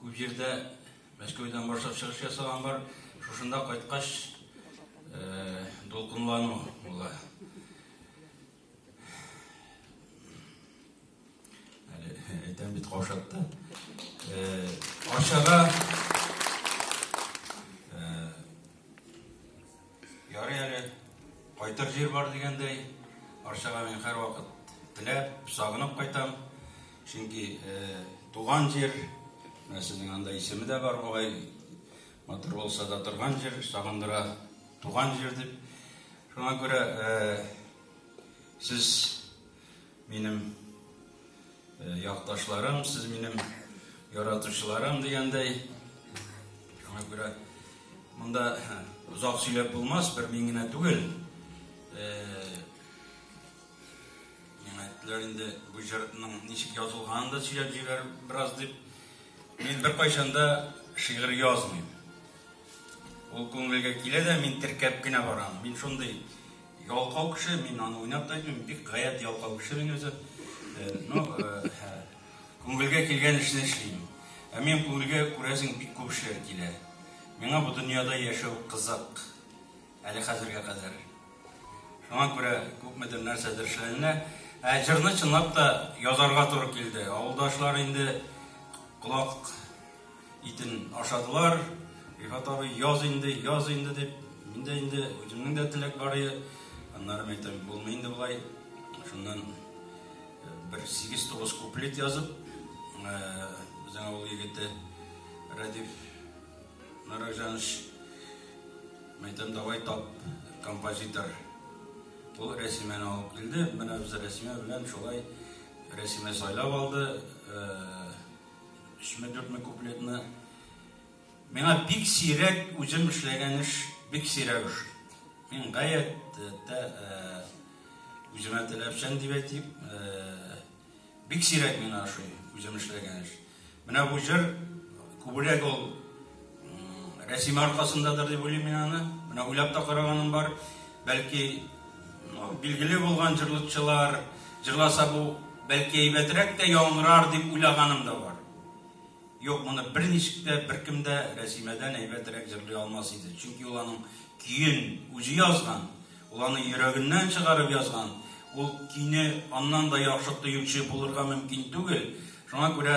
Күп җирдә Мәскәүдән башлап чыгыш ясаган бар. Шушында кайткач, дулкынлану була. Әле әйтәм бит каушатты. Ашыга Ярый әле, кайтыр җир бар дигәндәй, Арчага мин һәрвакыт теләп, сагынып кайтам. Чөнки туган җир, менә сезнең анда исеме дә бар бугай, матур булса да торган җир, сагындыра туган җир дип. Шуңа күрә сез Минем якташларым, сез минем яратучыларым дигәндәй. Шуңа күрә монда озак сөйләп булмас, бер мин генә түгел. Миңа әйттеләр инде бу җырның ничек язылганын да сөйләп җибәр бераз дип. Мин беркайчан да шигырь язмыйм. Ул күңелгә килә дә, мин теркәп кенә барам. Мин шундый ялкау кеше, мин аны уйнап та әйтмим, бик гаять ялкау кеше мин үзе. Э, ну, э, күңелгә килгән эшне эшлим. Ә мин күңелгә күрәсең бик күп эшләр килә. Миңа бу дөньяда яшәү кызык. Әле хәзергә кадәр. Шуңа күрә күпмедер нәрсәдер эшләнелә. Ә җырны чынлап та язарга туры килде. Авылдашлар инде колак Итен ашадылар. Рифат абый, яз инде, яз инде дип, мин дә инде үземнең дә теләк бар иде. Аннары мин әйтәм, булмый инде болай. Шуннан э, бер 8-9 куплет язып, э, безнең авыл егете Радив Наракжанович мәйтәм давай тап композитор ул рәсимәне алып килде менә без рәсимә белән шулай рәсимә сайлап алды э, Өчме-дүртме куплетны миңа бик сирәк үзем эшләгән эш бик сирәк эш. Мин гаять тә үземә теләпчән дип әйтик, бик сирәк миңа ошый үзем эшләгән эш. Менә бу җыр күбрәк ул Рәсим аркасындадыр дип уйлыйм мин аны. Менә уйлап та караганым бар. Бәлки билгеле булган җырлыкчылар җырласа бу бәлки әйбәтрәк тә яңгырар дип уйлаганым да бар. Юк, моны берничек тә беркем дә Рәсимәдән әйбәтрәк җырлый алмас иде. Чөнки ул аның көен үзе язган, ул аны йөрәгеннән чыгарып язган. Ул көйне аннан да яхшы тоючы булырга мөмкин түгел. Шуңа күрә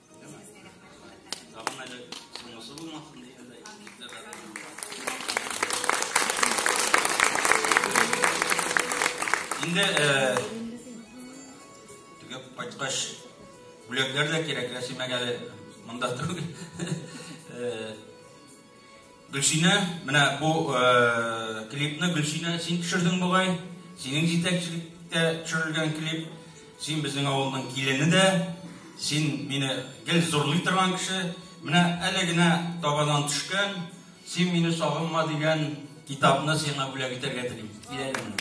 Инде э, төгәп кайткач бүләкләр дә кирәк, рәсимәгә монда түгел. Э, Гөлсинә, менә бу клипны Гөлсинә син төшердең бугай. Синең җитәкчелектә төшерелгән клип. Син безнең авылның килене дә. Син мине гел зурлый торган кеше. Менә әле генә табадан төшкән Син мине сагынма дигән Китапны сиңа бүләк итәргә телим. Кил әле монда.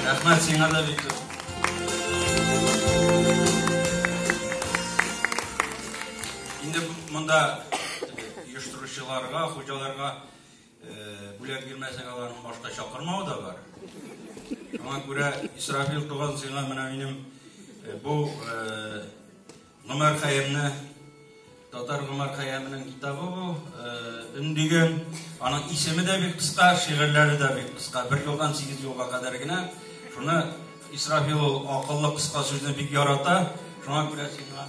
Рәхмәт сиңа да бик күп. Инде монда оештыручыларга, хуҗаларга Бүләк бирмәсәң, аларны башта чакырмау да бар. Шуңа күрә, Исрафил туган, сиңа менә минем бу Гомәр Хәйәмне Татар Гомәр Хәйәменең китабы бу, өндигән. Аның исеме дә бик кыска, шигырьләре дә бик кыска. Бер юлдан сигез юлга кадәр генә. Шуны Исрафил ул акыллы кыска сүзне бик ярата. Шуңа күрә сиңа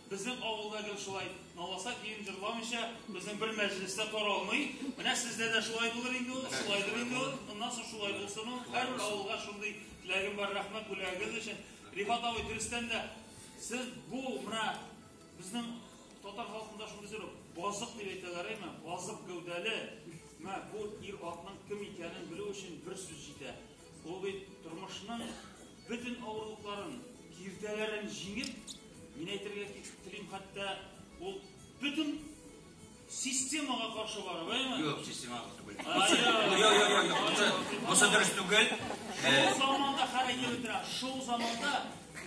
Безнең авылда гел шулай, наласа кием җырламыйча, безнең бер мәҗлес тә таралмый. Менә сездә дә шулай булыр инде ул, шулайдыр инде ул. Моннан соң шулай булсын ул. Һәрбер авылга шундый теләгем бар, рәхмәт бүләгегез өчен. Рифат абый, дөрестән дә, сез бу менә безнең татар халкында шундый сүз бар, базык дип әйтәләр, әйме? Базык гәүдәле. Менә бу ир атның кем икәнен белү өчен бер сүз җитә. Ул бит тормышның бөтен авырлыкларын, киртәләрен җиңеп, Мин әйтергә телим, хәтта ул бөтен системага каршы бара, бәйме? Юк, системага каршы бара. Юк, юк, юк, юк. Бусы дөрес түгел. Шул заманда хәрәкәт итә. Шул заманда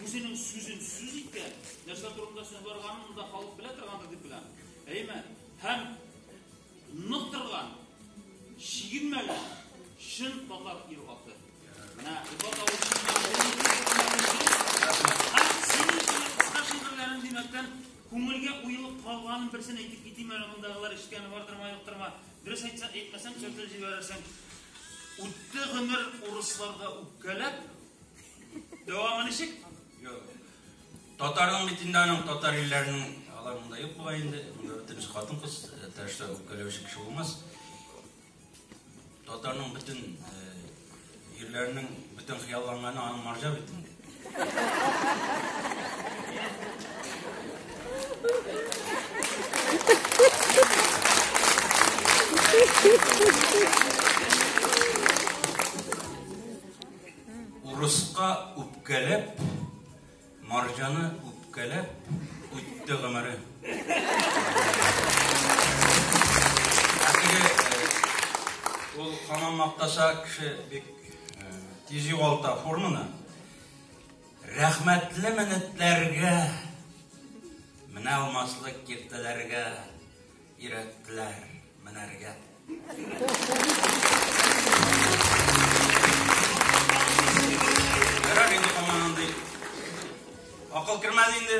үзенең сүзен сүз иткән, нәрсә турында сүз барганын монда халык белә торгандыр дип беләм. Әйме? Һәм Нык торган, чигенмәгән, чын татар ир-аты. Менә Рифат абый шигырьләрен димәктән күңелгә уелып калганын берсен әйтеп китим әле мондагылар ишеткәне бардырма юктырма. Дөрес әйтсә, әйтмәсәм төртеп җибәрәсең. Үтте гомер урысларга үпкәләп. Дәвамы ничек? Юк. Татарның бит инде аның татар илләренең алар монда юк була инде. Монда бөтен эш хатын кыз тәрәшә үпкәләүче кеше булмас. Татарның бөтен ирләрнең бөтен хыялланганы аның марҗа бит инде. Урыска үпкәләп Марҗаны үпкәләп үтте гомере. Ә теге ул хамам мактаса кеше бик тиз югалта форманы. Рәхмәтле минутларга менә алмаслык киртәләргә Өйрәттеләр менәргә. Ярар инде аңа андый. Акыл кермәде инде.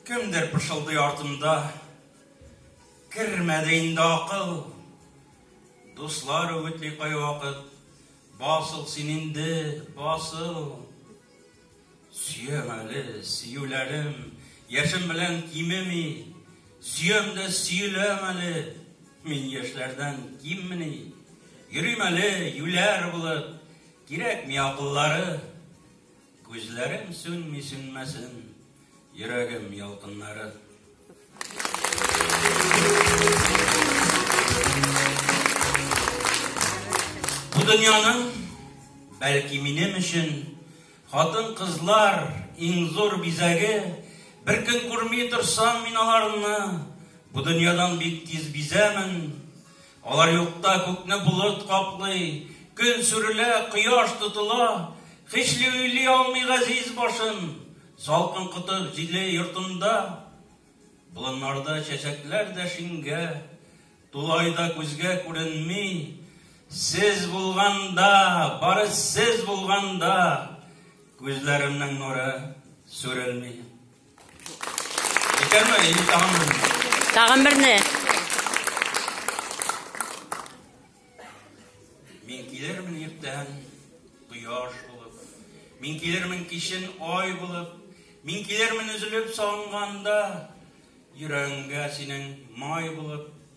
Кемдер пышылдый артында. Кермәде инде акыл. Дуслар үгетли кайвакыт. Басыл син инде, басыл! Сөям әле, сөюләрем, яшем белән кимеми, сөям дә сөеләм әле, мин яшьләрдән киммени. Йөрим әле, юләр булып, кирәкми акыллары, Күзләрем сүнми сүнмәсен, йөрәгем ялкыннары. Бу дөньяның, бәлки минем өчен, хатын-кызлар иң зур бизәге, бер көн күрми торсам мин аларны, бу дөньядан бик тиз бизәмен, Алар юкта күкне болыт каплый, Көн сүрелә, кояш тотыла, Хичли уйлый алмый газиз башын, Салкын кытык җиле йортында. Болыннарда чәчәкләр дә шиңгә, Тулай да күзгә күренми. Сез булганда, бары сез булганда, Күзләремнең нуры сүрелми. Тагын берне. Мин килермен иртән кояш булып, мин килермен кичен ай булып, мин килермен өзелеп санганда, йөрәгеңгә синең май булып,